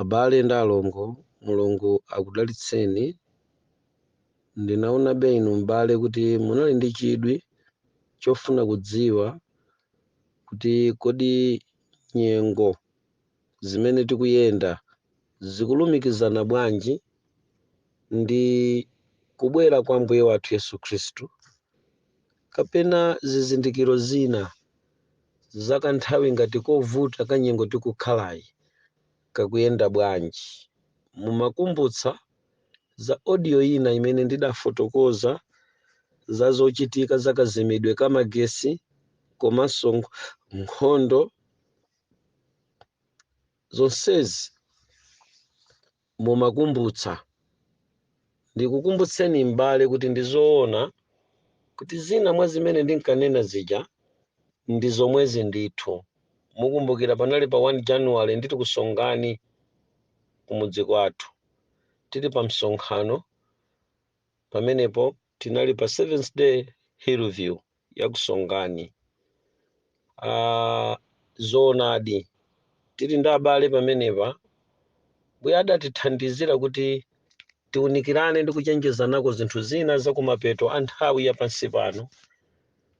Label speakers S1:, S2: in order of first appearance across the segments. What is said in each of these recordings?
S1: Abale ndi alongo, Mulungu akudalitseni. Ndinaonabe inu m'bale kuti munali ndi chidwi chofuna kudziwa kuti kodi nyengo zimene tikuyenda zikulumikizana bwanji ndi kubwera kwa Ambuye wathu Yesu Khristu kapena zizindikiro zina zakanthawi ngati kovuta ka nyengo tikukhalayi kakuyenda bwanji. Mumakumbutsa za audio ina imene ndidafotokoza za zochitika za kazimidwe ka magesi komanso nkhondo zonsezi. mumakumbutsa. Ndikukumbutseni m'bale kuti ndi zoona kuti zina mwa zimene ndinkanena zija ndi zomwezi ndithu. Mukumbukira panali pa 1 January nditili ku Songani kumudzi kwathu tili pamsonkhano pamenepo tinali pa Seventh Day Hillview ya ku Songani. Ah, zoonadi tili ndi abale pamenepa mbuye adatithandizira kuti tiunikirane ndi kuchenjezanako zinthu zina za kumapeto a nthawi ya pansi pano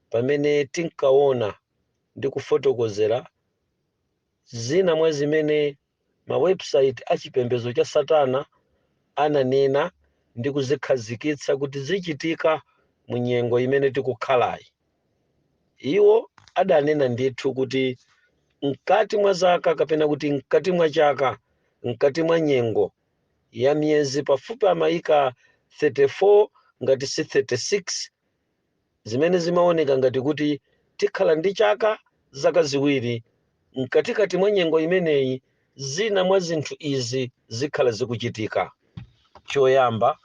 S1: pamene tinkaona ndi kufotokozera zina mwa zimene mawebusaiti a chipembedzo cha Satana ananena ndi kuzikhazikitsa kuti zichitika mu nyengo imene tikukhalayi. Iwo adanena ndithu kuti mkati mwa zaka kapena kuti mkati mwa chaka, mkati mwa nyengo ya miyezi pafupi amayika 34 ngati si 36, zimene zimaoneka ngati kuti tikhala ndi chaka, zaka ziwiri, mkatikati mwa nyengo imeneyi zina mwa zinthu izi zikhala zikuchitika. Choyamba,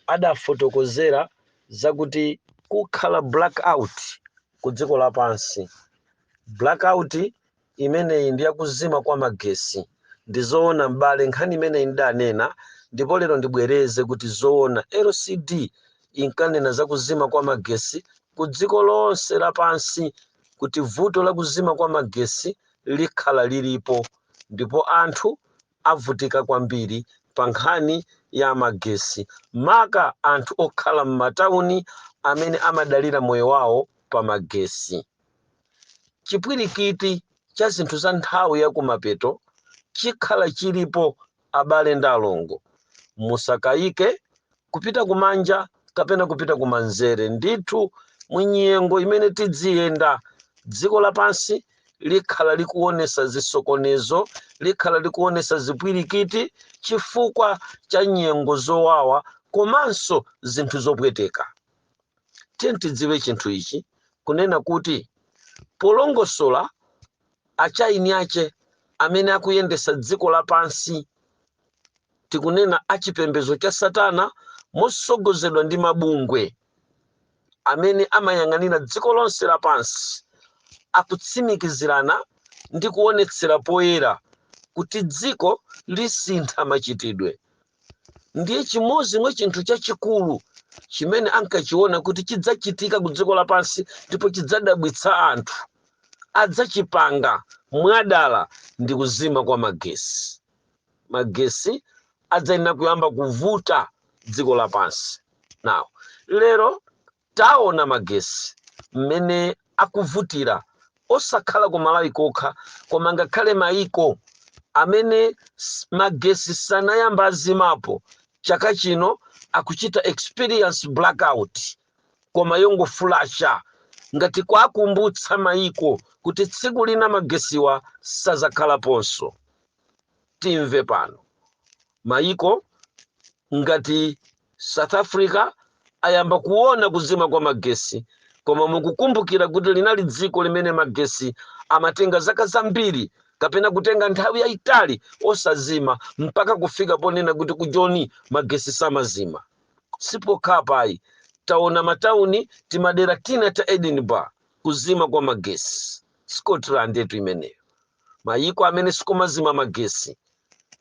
S1: adafotokozera zakuti kukhala blackout ku dziko lapansi. Blackout Imeneyi ndi yakuzima kwa magesi. Ndi zoona m'bale nkhani imeneyi ndidanena ndipo lero ndibwereze kuti zoona CD inkanena za kuzima kwa magesi ku dziko lonse lapansi kuti vuto la kuzima kwa magesi likhala lilipo ndipo anthu avutika kwambiri pa nkhani ya magesi maka anthu okhala m'matauni amene amadalira moyo wawo pa magesi. chipwirikiti cha zinthu za nthawi ya kumapeto chikhala chilipo abale ndi alongo musakayike kupita kumanja kapena kupita kumanzere ndithu mu nyengo imene tidziyenda dziko lapansi likhala likuonesa zisokonezo likhala likuonesa zipwirikiti chifukwa cha nyengo zowawa komanso zinthu zopweteka tiyeni tidziwe chinthu ichi kunena kuti polongosola achaini ache amene akuyendesa dziko lapansi tikunena achipembezo cha satana mosogozedwa ndi mabungwe amene amayang'anira dziko lonse lapansi akutsimikizirana ndi kuonetsera poyera kuti dziko lisintha machitidwe ndiye chimodzi mwa chinthu chachikulu chimene ankachiona kuti chidzachitika ku dziko lapansi ndipo chidzadabwitsa anthu adzachipanga mwadala ndi kuzima kwa magesi magesi adzayenera kuyamba kuvuta dziko lapansi now lero Taona magesi mmene akuvutira osakhala ku Malawi kokha koma ngakhale maiko amene magesi sanayamba azimapo chaka chino akuchita experience blackout koma yongoflasha ngati kuwakumbutsa maiko kuti tsiku lina magesiwa sazakhalaponso. Timve pano. Mayiko ngati South Africa ayamba kuona kuzima kwa magesi koma mukukumbukira kuti linali dziko limene magesi amatenga zaka zambiri kapena kutenga nthawi yayitali osazima mpaka kufika ponena kuti ku Joni magesi samazima si pokhapa ayi taona matauni timadera tina ta Edinburgh kuzima kwa magesi Scotland-tu imeneyo mayiko amene sikumazima magesi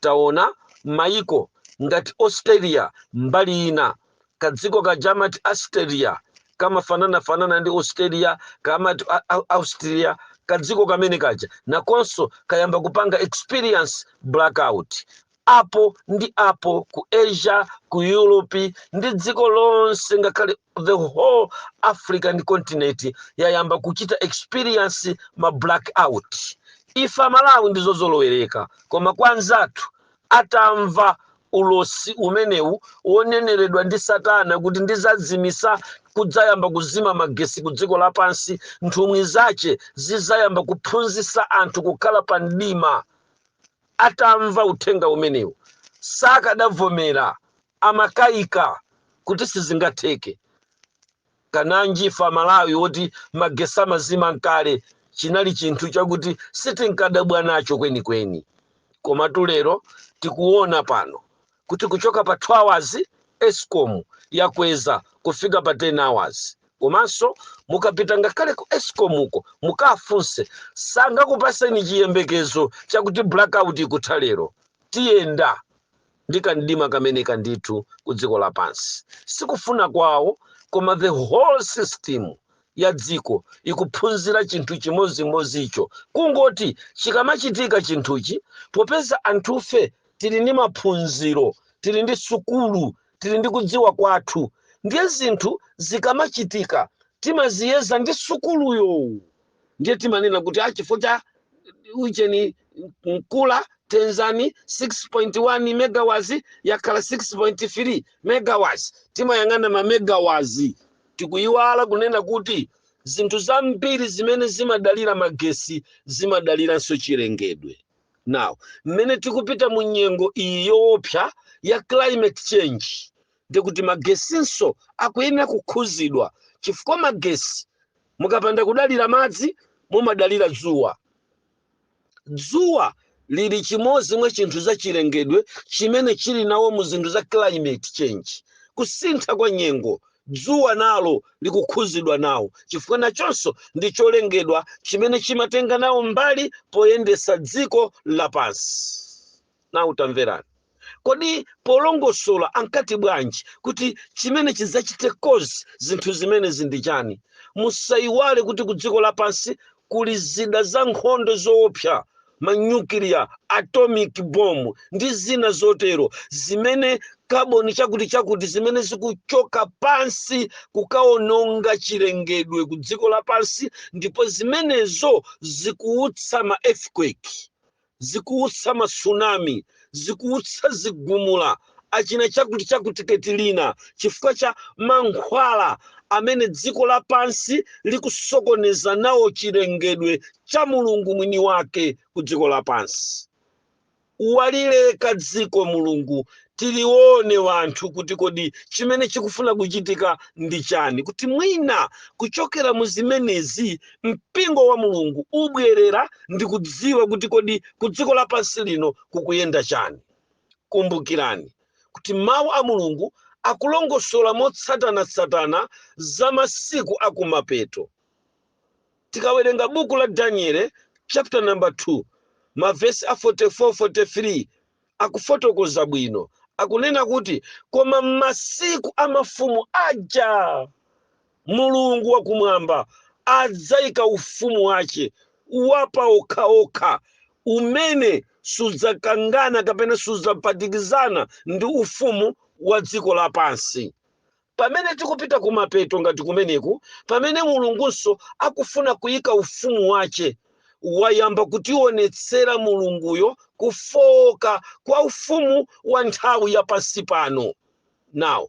S1: Taona maiko ngati Australia mbali ina kadziko kaja amati Austria kamafananafanana ndi Australia kamati a- a- Austria kadziko kamene kaja nakonso kayamba kupanga experience blackout apo ndi apo ku Asia ku Europe ndi dziko lonse ngakhale the whole african continent yayamba kuchita experience ma blackout ife amalawi ndi zozolowereka koma kwa anzathu atamva ulosi umenewu woneneredwa ndi satana kuti ndizazimisa kudzayamba kuzima magesi ku dziko lapansi nthumwi zache zizayamba kuphunzisa anthu kukhala pa mdima atamva uthenga umenewu sakadavomera Amakaika kuti sizingatheke. Kananji ife amalawi woti magesi amazima n'kale chinali chinthu chakuti sitinkadabwa nacho kwenikweni. Komatu lero tikuona pano kuti kuchoka pa 2 hours ESCOM yakweza kufika pa 10 hours. Komanso mukapita ngakhale ku ESCOM ko mukafunse sangakupaseni chiyembekezo chakuti blackout ikutha lero. Tiyenda. ndi kamdima kameneka ndithu ku dziko lapansi sikufuna kwawo koma the whole system ya dziko ikuphunzira chinthu chimodzimodzicho kungoti chikamachitika chinthuchi popeza anthufe tili ndi maphunziro tili ndi sukulu tili ndi kudziwa kwathu ndiye zinthu zikamachitika timaziyeza ndi sukuluyo ndiye timanena kuti a chifukwa cha ujeni Nkula Tedzani 6.1 megawatts yakhala 6.3 megawatts timayang'ana ma megawatts tikuyiwala kunena kuti zinthu zambiri zimene zimadalira magesi zimadaliranso chilengedwe now mmene tikupita mu nyengo iyi yoopsa ya climate change ndiye kuti magesinso akuyenera kukhudzidwa chifukwa magesi Mukapanda kudalira madzi, mumadalira dzuwa. Dzuwa lili chimodzi mwa chinthu zachilengedwe chimene chili nawo mu zinthu za climate change, kusintha kwa nyengo. Dzuwa nalo likukhudzidwa nawo chifukwa nachonso ndi cholengedwa chimene chimatenga nawo mbali poyendetsa dziko lapansi. now tamverani kodi polongosola ankati bwanji kuti chimene chidzachite cause zinthu zimenezi ndi chani musayiwale kuti ku dziko lapansi kuli zida za nkhondo zoopsa manyukiliya atomic bomb ndi zina zotero zimene kaboni chakuti chakuti zimene zikuchoka pansi kukaononga chilengedwe ku dziko lapansi ndipo zimenezo zikuutsa ma earthquake zikuutsa ma tsunami, zikuutsa zigumula, achina chakuti chakuti Katrina, chifukwa cha mankhwala amene dziko lapansi likusokoneza nawo chilengedwe cha Mulungu mwini wake ku dziko lapansi. Walileka dziko Mulungu tilione wanthu kuti kodi chimene chikufuna kuchitika ndi chani, kuti mwina kuchokera mu zimenezi mpingo wa mulungu ubwerere ndi kudziwa kuti kodi ku dziko lapansi lino kukuyenda chani kumbukirani kuti mawu a mulungu akulongosola motsatanatsatana za masiku akumapeto tikawerenga buku la daniele chapter number 2 mavesi a 44 43 akufotokoza bwino. Akunena kuti, Koma masiku a mafumu aja, Mulungu wakumwamba adzaika ufumu wace wa pa okha-okha, umene sudzakangana kapena sudzaphatikizana ndi ufumu wa dziko lapansi. Pamene tikupita kumapeto ngati kumeneku, pamene Mulungunso akufuna kuyika ufumu wache, wayamba kutionetsera Mulunguyo kufooka kwa ufumu wa nthawi ya pansi pano. Now,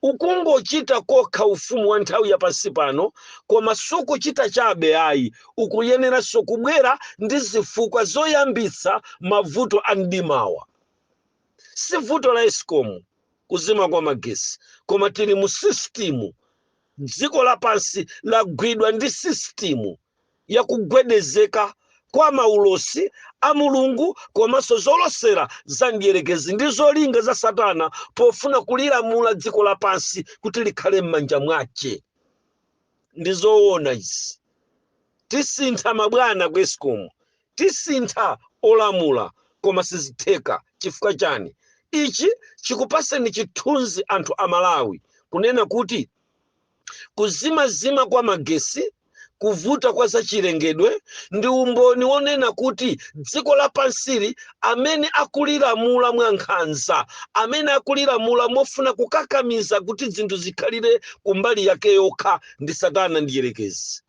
S1: ukumgochita kokha ufumu wa nthawi ya pansi pano, koma sukuchita chabe ayi, ukuyeneranso kubwera ndi zifukwa zoyambitsa mavuto a mdimawa. Si vuto la Escom, kuzima kwa magesi koma tili mu sisitimu dziko lapansi lagwidwa ndi sisitimu yakugwedezeka kwa maulosi a mulungu komanso zolosera za mdierekezi ndi zolinga za satana pofuna kulilamula dziko lapansi kuti likhale m'manja mwace ndi zoona izi tisintha mabwana ku escom Tisintha olamula koma sizitheka chifukwa chani? Ichi chikupaseni chithunzi anthu amalawi kunena kuti kuzimazima kwa magesi, kuvuta kwa zachilengedwe ndi umboni wonena kuti dziko lapansili amene akulilamula mwa nkhanza, amene akulilamula mofuna kukakamiza kuti zinthu zikhalire kumbali yake yokha ndi satana mdyerekezi.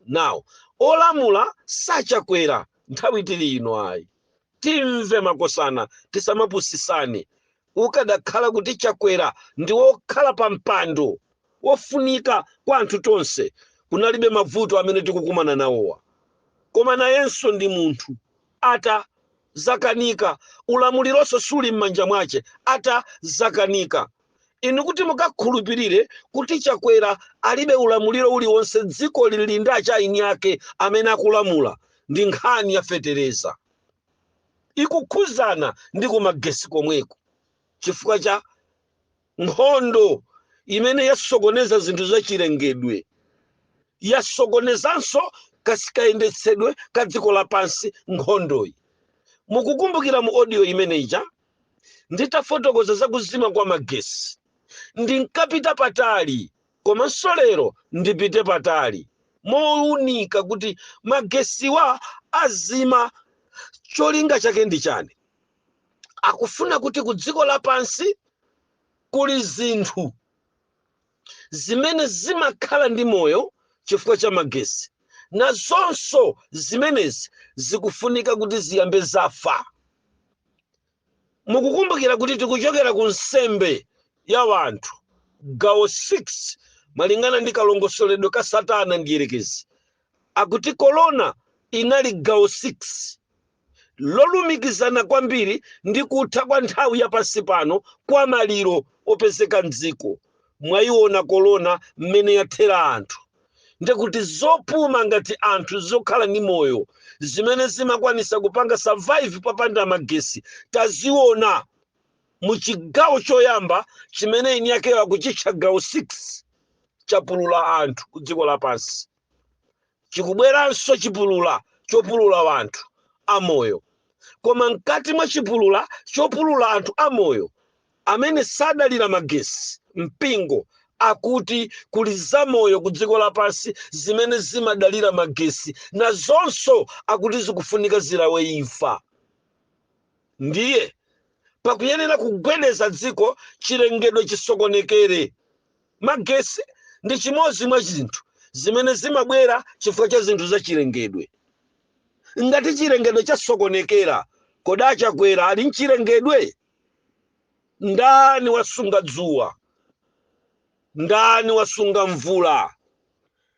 S1: Now olamula si Chakwera nthawi tili ino ayi timve makosana tisamapusisane ukadakhala kuti chakwera ndi wokhala pa mpando wofunika kwa anthu tonse kunalibe mavuto amene tikukumana nawowa koma nayenso ndi munthu ata zakanika ulamulironso suli m'manja mwache ata zakanika inu kuti mukakhulupirire kuti chakwera alibe ulamuliro uliwonse dziko lili ndi a China ake amene akulamula ndi nkhani ya fetereza ikukhuzana ndi kumagesi komweko chifukwa cha nkhondo imene yasokoneza zinthu zachilengedwe yasokonezanso ka- kayendetsedwe ka dziko lapansi nkhondoyi mukukumbukira mu audio imene ija nditafotokoza za kuzima kwa magesi ndinkapita patali komanso lero ndipite patali mounika kuti magesiwa azima cholinga chake ndi chani akufuna kuti ku dziko lapansi kuli zinthu zimene zimakhala ndi moyo chifukwa cha magesi nazonso zimenezi zikufunika kuti ziyambe zafa mukukumbukira kuti tikuchokera ku nsembe ya wanthu gawo 6 malingana ndi kalongosoledwe ka satana ndiyerekezi akuti korona inali gawo 6 lolumikizana kwambiri ndi kutha kwa nthawi ya pansi pano kwa maliro opezeka m'dziko. Mwayiona korona mmene yathela anthu. Ndikuti zopuma ngati anthu zokhala ndi moyo zimene zimakwanisa kupanga survive papanda magesi taziona. mu chigawo choyamba chimene eni akewo akuchitcha gawo 6 chapulula anthu ku dziko lapansi chikubweranso chipulula chopulula anthu amoyo koma mkati mwa chipulula chopulula anthu amoyo amene sadalira magesi mpingo akuti kuli zamoyo ku dziko lapansi zimene zimadalira magesi nazonso akuti zikufunika zilawe imfa ndiye pakuyenera kugwedeza dziko chilengedwe chisokonekere magesi ndi chimodzi mwa zinthu zimene zimabwera chifukwa cha zinthu za chilengedwe ngati chilengedwe chasokonekera kodi atcha kuti ali mchilengedwe ndani wasunga dzuwa ndani wasunga mvula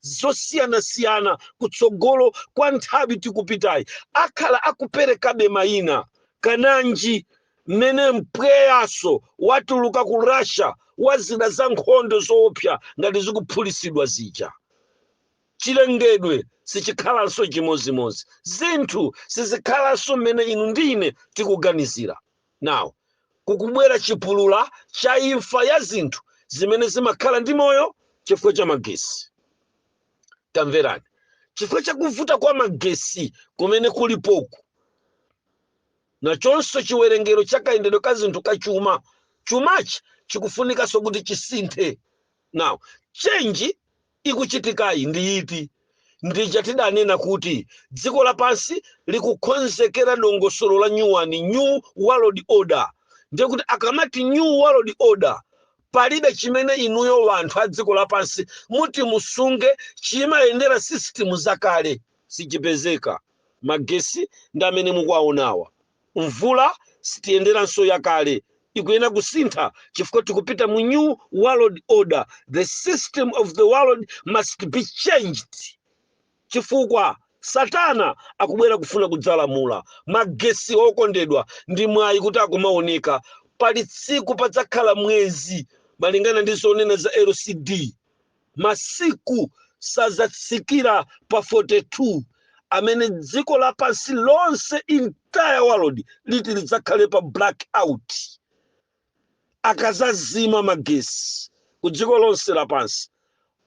S1: zosiyanasiyana kutsogolo kwa nthawi tikupitayi akhala akuperekabe mayina kananji mmene mpweyaso watuluka ku russia wa zida za nkhondo zoopsa ngati zikuphulisidwa zija chilengedwe sichikhalanso chimozimozi zinthu sizikhalanso mmene inu ndi ine tikuganizira Now, kukubwera chipulula cha imfa ya zinthu zimene zimakhala ndi moyo chifukwa cha magesi. Tamverani, chifukwa cha kuvuta kwa magesi kumene kulipoku, nachonso chiwerengero cha kayendedwe ka zinthu ka chuma chumachi chikufunikanso kuti chisinthe. Now, change ikuchitikayi ndi iti? Ndi ija tidanena kuti dziko lapansi likukhonzekera dongosolo la new one, New World Order. Ndiye kuti akamati New World Order, palibe chimene inuyo wanthu a dziko lapansi muti musunge chimayendera sisitimu zakale, sichipezeka. Magesi ndi amene mukuwaonawa. Mvula siti iyenderanso yakale, ikuyenera kusintha chifukwa tikupita mu new world order, the system of the world must be changed chifukwa satana akubwera kufuna kudzalamula magesi okondedwa ndi mwayi kuti akumaoneka pali tsiku padzakhala mwezi malingana ndi zonena za lcd masiku sadzatsikira pa 42 amene dziko lapansi lonse entire world liti lidzakhale pa blackout akazazima magesi ku dziko lonse lapansi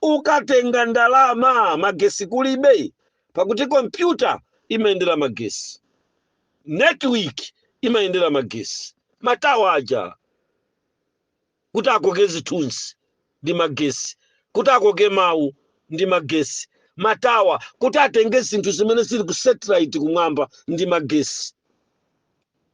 S1: ukatenga ndalama magesi kulibe pakuti kompyuta imayendera magesi network imayendera magesi matawa aja kuti akoke zithunzi ndi magesi, kuti akoke mawu ndi magesi, matawa kuti atenge zinthu zimene zili ku satellite kumwamba ndi magesi.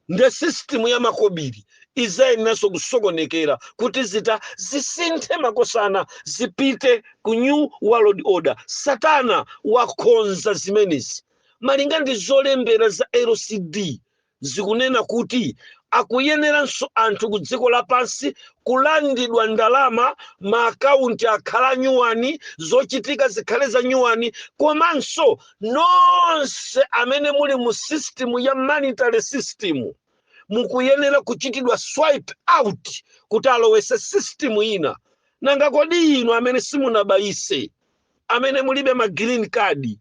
S1: Nde system ya makobiri izayeneranso kusokonekera kuti zinthu zisinthe makosana zipite ku new world order. Satana wakonza zimenezi malinga ndi zolembera za LCD zikunena kuti akuyeneranso anthu ku dziko lapansi kulandidwa ndalama ma akaunti akhale a nyuwani zochitika zikhale za nyuwani komanso nonse amene muli mu system ya monetary system mukuyenera kuchitidwa swipe out kuti alowese system ina nanga kodi inu amene simunabayise amene mulibe ma green card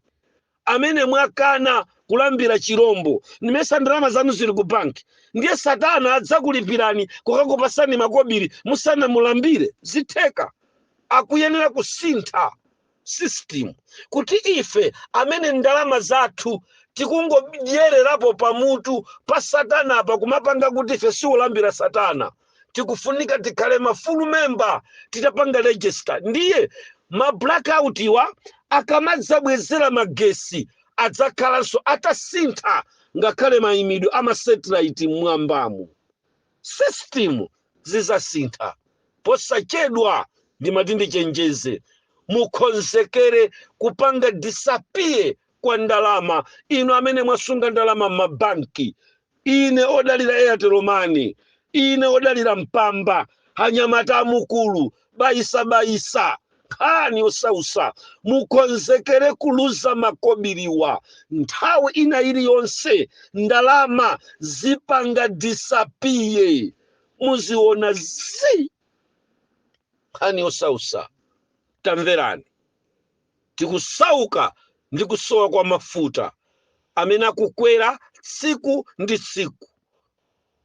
S1: amene mwakana kulambira chirombo ndimayesa ndalama zanu zili ku banki ndiye satana adzakulipirani kukakupasani makobiri musanamulambire zitheka akuyenera kusintha system kuti ife amene ndalama zathu tikungodyererapo pamutu pa satana apa kumapanga kuti ife sitilambira satana tikufunika tikhale ma full member titapanga register ndiye ma blackout iwa akamadzabwezera magesi adzakhalanso atasintha ngakhale mayimidwe ama satellite mmwambamu system zidzasintha posachedwa ndimati ndichenjeze mukonzekere kupanga disappear kwa ndalama inu amene mwasunga ndalama m'mabanki Inu odalira airtel money inu odalira mpamba anyamata a mu gulu bayisa bayisa nkhani yosausa mukonzekere kuluza makobiriwa nthawi ina iliyonse ndalama zipanga disappear muziona zi nkhani yosausa tamverani Tikusauka ndi kusowa kwa mafuta amene akukwera tsiku ndi tsiku.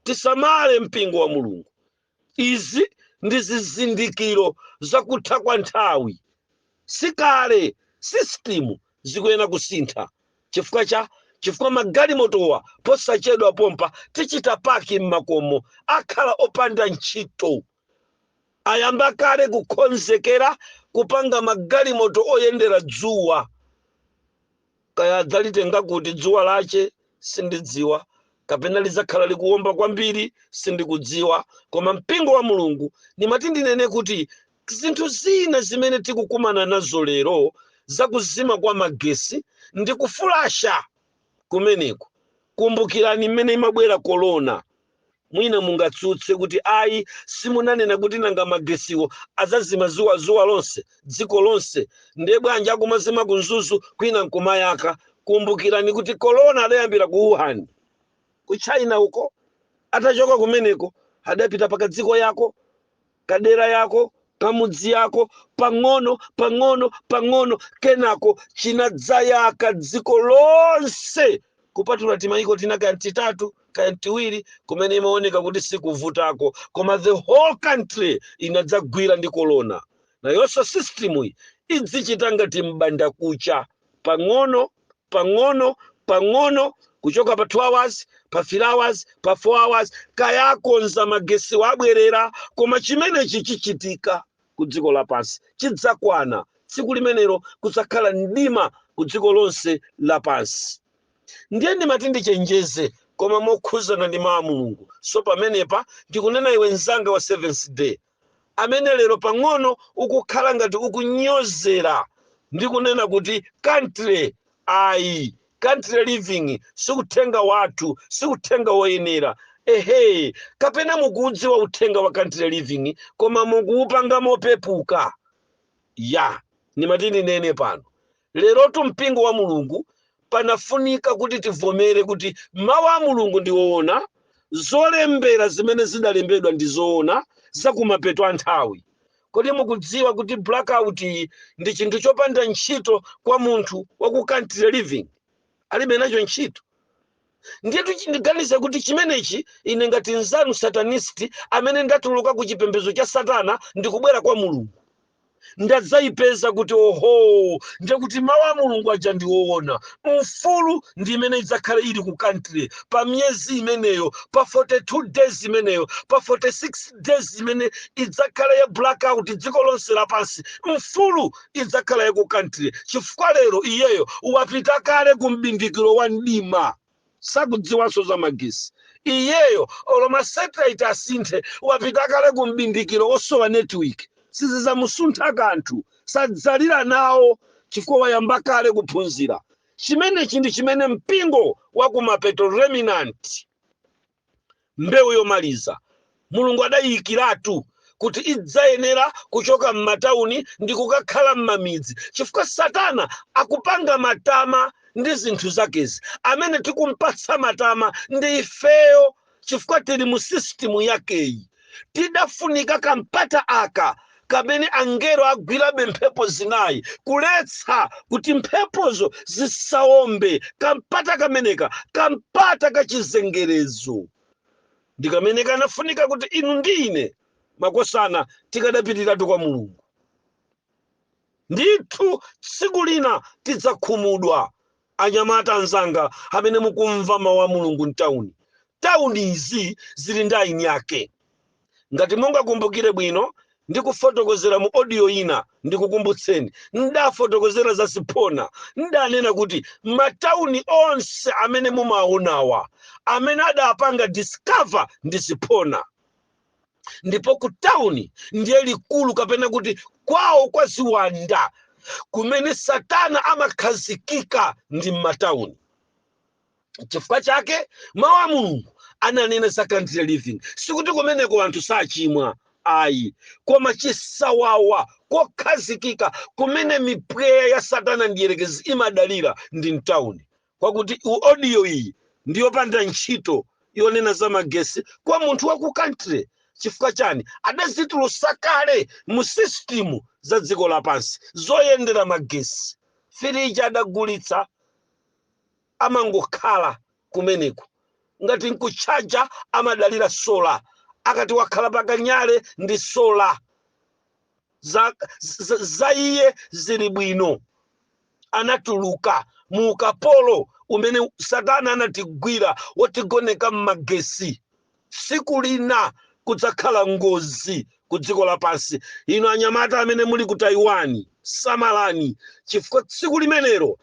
S1: Tisamale mpingo wa Mulungu. Izi ndi zizindikiro za kutha kwa nthawi. Si kale sisitimu zikuyenera kusintha chifukwa cha chifukwa magalimotowa posachedwa pompa tichita paki m'makomo, akhala opanda ntchito. ayamba kale kukonzekera kupanga magalimoto oyendera dzuwa kaya adzalitenga kuti dzuwa lache sindidziwa kapena lidzakhala likuwomba kwambiri sindikudziwa koma mpingo wa mulungu ndimati ndinene kuti zinthu zina zimene tikukumana nazo lero zakuzima kwa magesi ndi kufulasha kumeneku kumbukirani mmene imabwera korona Mwina mungatsutse kuti, Ayi, simunanena kuti nanga magesiwo adzazima dzuwa lonse, dziko lonse? Ndiye bwanji akumazima ku Mzuzu kwina nkumayaka? Kumbukirani kuti corona adayambira ku Wuhan, ku China uko. Atachoka kumeneko adapita pakadziko yako. kadera yako kamudzi yako pang'ono pang'ono pang'ono kenako chinadzayaka dziko lonse kupatula timayiko tina kaya ndi titatu kaya ndi tiwiri kumene imaoneka kuti sikuvutako koma the whole country inadzagwira ndi kolona nayonso system iyi idzichita ngati mbanda kucha pang'ono pang'ono pang'ono kuchoka pa 2 hours pa 3 hours pa 4 hours kaya akonza magesiwa abwerera koma chimenechi chichitika ku dziko lapansi chidzakwana tsiku limenero kudzakhala mdima ku dziko lonse lapansi ndiye ndimati ndichenjeze koma mokhuzana ndi mawu a mulungu so pamenepa ndikunena iwe mzanga wa seventh day amene lero pang'ono ukukhala ngati ukunyozera ndi kunena kuti country ayi country living siuthenga wathu siuthenga woyenera ehe kapena mukuudziwa uthenga wa country living koma mukuupanga mopepuka ya ndimati ndinene pano Lerotu Mpingo wa Mulungu panafunika kuti tivomere kuti Mawu a Mulungu ndi oona, zolembera zimene zidalembedwa ndi zoona za kumapeto a nthawi. Kodi mukudziwa kuti blackout iyi ndi chinthu chopanda ntchito kwa munthu wa ku country living? Alibe nacho ntchito. Ndiyetu chi- ndiganiza kuti chimenechi ine ngati nzanu satanist amene ndatuluka ku chipembedzo cha Satana ndikubwera kwa Mulungu. ndadzayipeza kuti oho ndiye kuti mawu a mulungu aja ndi woona mfulu ndi imene idzakhale ili ku country pa miyezi imeneyo pa 42 days imeneyo pa 46 days imene idzakhala ya blackout dziko lonse lapansi mfulu idzakhala ya ku country chifukwa lero iyeyo wapita kale ku mbindikiro wa mdima sakudziwanso za magesi iyeyo olo ma satellite asinthe wapita kale ku mbindikiro wosowa network sizizamusuntha kanthu sadzalira nawo chifukwa wayamba kale kuphunzira chimenechi ndi chimene mpingo wa kumapeto remnant Mbewu yomaliza, Mulungu adaiyikiratu kuti idzayenera kuchoka m'matauni ndikukakhala m'mamidzi chifukwa satana akupanga matama ndi zinthu zakezi. Amene tikumpatsa matama ndi ifeyo chifukwa tili mu system yakeyi. tidafunika kampata aka kamene angelo agwirabe mphepo zinayi kuletsa kuti mphepozo zisawombe kampata kameneka kampata kachizengerezo ndi kamene kanafunika kuti inu ndi ine makosana tikadapitiratu kwa mulungu ndithu tsiku lina tidzakhumudwa Anyamata anzanga amene mukumva mawu a Mulungu m'tauni, tauni izi zili ndi eni ake. Ngati mungakumbukire bwino, ndikufotokozera mu audio ina, ndikukumbutseni, n'daafotokozera za ziphona, n'daanena kuti matauni onse amene mumaaonawa, amene adaapanga discover ndi ziphona. ndipo ku tauni ndiye likulu kapena kuti kwawo kwa ziwanda kumene satana amakhazikika ndi m'matauni chifukwa chake mawu a mulungu ananena za country living sikuti kumeneko anthu sachimwa ayi koma chisawawa kokhazikika kumene mipweya ya satana mdyerekezi imadalira ndi mtauni kwakuti audio iyi ndi yopanda ntchito yonena za magesi kwa munthu wa ku country chifukwa chani adadzitulutsa kale mu system za dziko lapansi zoyendera magesi firiji adagulitsa amangokhala kumeneko ngati nkutchaja amadalira sola akati wakhala pakanyale ndi sola za iye zili bwino anatuluka mu ukapolo umene satana anatigwira wotigoneka m'magesi tsiku lina kudzakhala ngozi ku dziko lapansi inu anyamata amene muli ku Taiwan samalani chifukwa tsiku limenero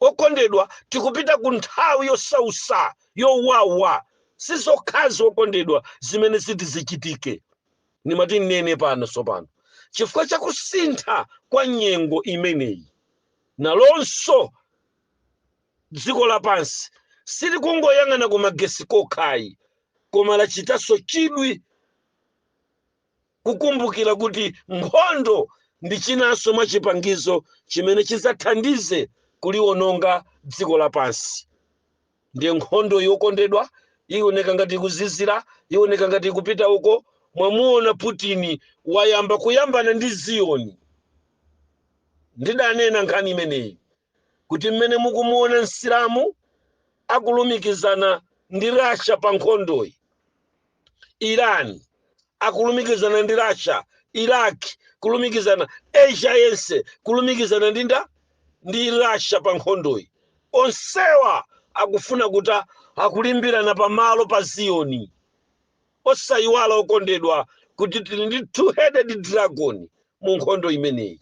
S1: okondedwa tikupita ku nthawi yosausa yowawa sizokhazi okondedwa zimene ziti zichitike ndimati ndinene pano tsopano chifukwa cha kusintha kwa nyengo imeneyi nalonso dziko lapansi silikungoyang'ana ku magesi kokhayi koma lachitanso chidwi kukumbukira kuti nkhondo ndi chinanso mwa chipangizo chimene chidzathandize kuliwononga dziko lapansi ndiye nkhondoyo okondedwa ioneka ngati ikuzizira ioneka ngati ikupita uko mwamuona putini wayamba kuyambana ndi ziyoni ndidanena nkhani imeneyi kuti mmene mukumuona msilamu akulumikizana ndi russia pa nkhondoyi iran akulumikizana ndi russia iraq kulumikizana asia yense kulumikizana ndi nda ndi russia pa nkhondoyi onsewa akufuna kuti akulimbirana pamalo pa ziyoni osayiwala okondedwa kuti tili ndi two headed dragon mu nkhondo imeneyi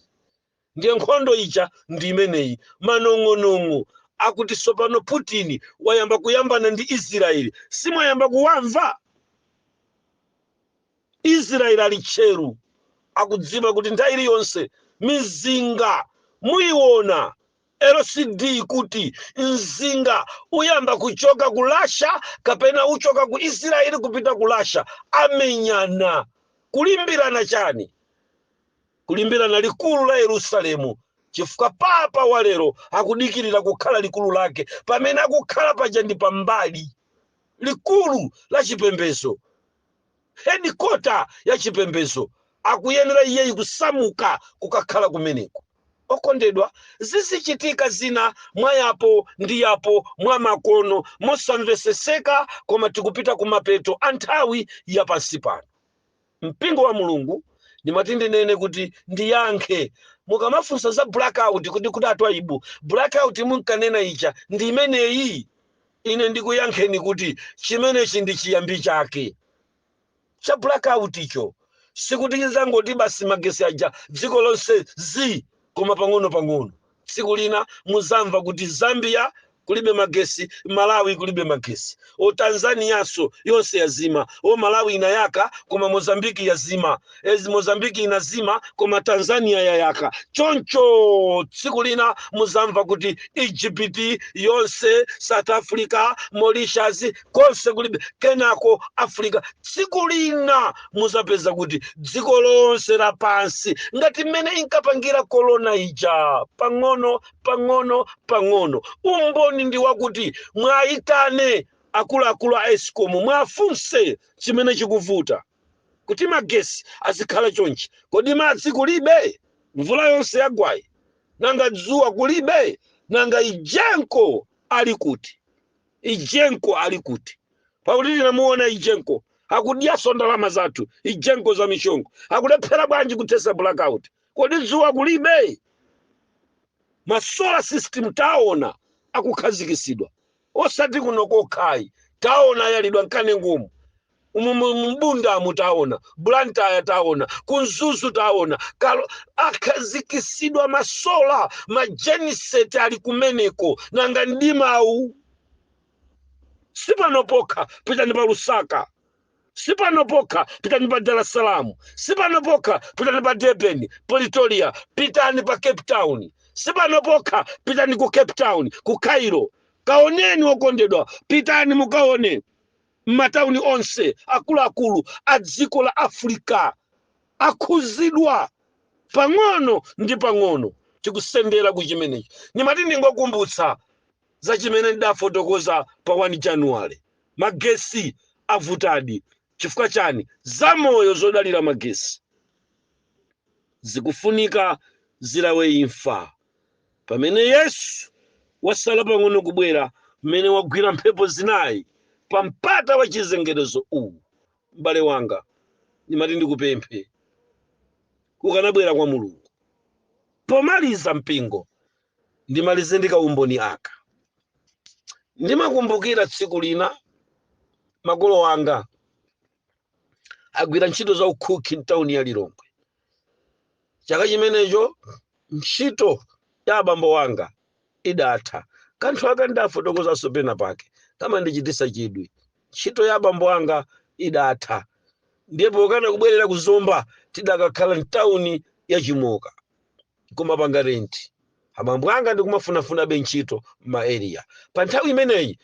S1: Ndiye nkhondo ija ndi imeneyi. Manong'onong'o akuti tsopano Putin wayamba kuyambana ndi Israel simwayamba kuwamva? Israel ali tcheru, akudziwa kuti nthawi iliyonse mizinga muiona LCD kuti mzinga uyamba kuchoka ku Russia kapena uchoka ku Israel kupita ku Russia, amenyana kulimbirana chani? kulimbirana likulu la Yerusalemu chifukwa papa wa lero akudikirira kukhala likulu lake pamene akukhala paja ndi pambali likulu la chipembedzo hedikota ya chipembedzo akuyenera iyeyi kusamuka kukakhala kumeneko okondedwa zizichitika zina mwa yapo ndi yapo mwa makono mosamveseseka koma tikupita ku mapeto a nthawi ya pansi pano mpingo wa mulungu ndimati ndinene kuti ndiyankhe mukamafunsa za blackout kuti kodi a Twaibu blackout munkanena ija ndi imeneyi ine ndikuyankheni kuti chimenechi ndi chiyambi chake cha blackout icho sikuti chizangoti basi magesi aja dziko lonse zi koma pang'ono pang'ono tsiku lina muzamva kuti zambia kulibe magesi malawi kulibe magesi o tanzanianso yonse yazima o malawi inayaka koma mozambiki yazima e mozambiki inazima koma tanzania yayaka choncho tsiku lina muzamva kuti egypt yonse south africa mauritius konse kulibe kenako africa tsiku lina muzapeza kuti dziko lonse lapansi ngati mmene inkapangira korona ija pang'ono pang'ono pang'ono umboni ndi wakuti mwayitane akuluakulu a escom mwafunse chimene chikuvuta kuti magesi azikhala chonchi kodi madzi kulibe mvula yonse yagwayi nanga dzuwa kulibe nanga egenco ali kuti egenco ali kuti pakuti tinamuona egenco akudyaso ndalama zathu egenco za mishongo akulephera bwanji kuthesa blackout kodi dzuwa kulibe ma solar system taona akukhazikisidwa osati kuno kokhayi taona ayalidwa m'kanengomu umu mu- mu mbundamu taona blantyre taona ku mzuzu taona kalo akhazikisidwa masola majeniseti ali kumeneko nanga mdimawu sipano pokha pitani pa lusaka sipano pokha pitani pa dar es salaam sipano pokha pitani pa durban pretoria pitani pa cape town sipano pokha pitani ku cape town ku cairo kaoneni okondedwa pitani mukaone matauni onse akuluakulu a dziko la Africa akhuzidwa pang'ono ndi pang'ono tikusendera ku chimenechi ndimati ndingokumbutsa za chimene ndidafotokoza pa 1 January magesi avutadi chifukwa chani zamoyo zodalira magesi zikufunika zilawe imfa Pamene Yesu wasala pang'ono kubwera, mmene wagwira mphepo zinayi pa mpata wa chizengerezo uwu, m'bale wanga, ndimati ndikupemphe, ukanabwera kwa Mulungu. Pomaliza, mpingo, ndimalize ndi kaumboni aka. Ndimakumbukira tsiku lina makolo anga agwira ntchito za ukhukhi mtawuni ya lilongwe chaka chimenecho ntchito ya abambo wanga idatha kanthu aka ndafotokozanso pena pake kamandichitisa chidwi ntchito ya abambo anga idatha ndiye pokana kubwerera ku zomba tidakakhala mtawuni ya chimoka kumapanga renti abambo anga ndikumafunafunabe ntchito m'maeriya pa nthawi imeneyi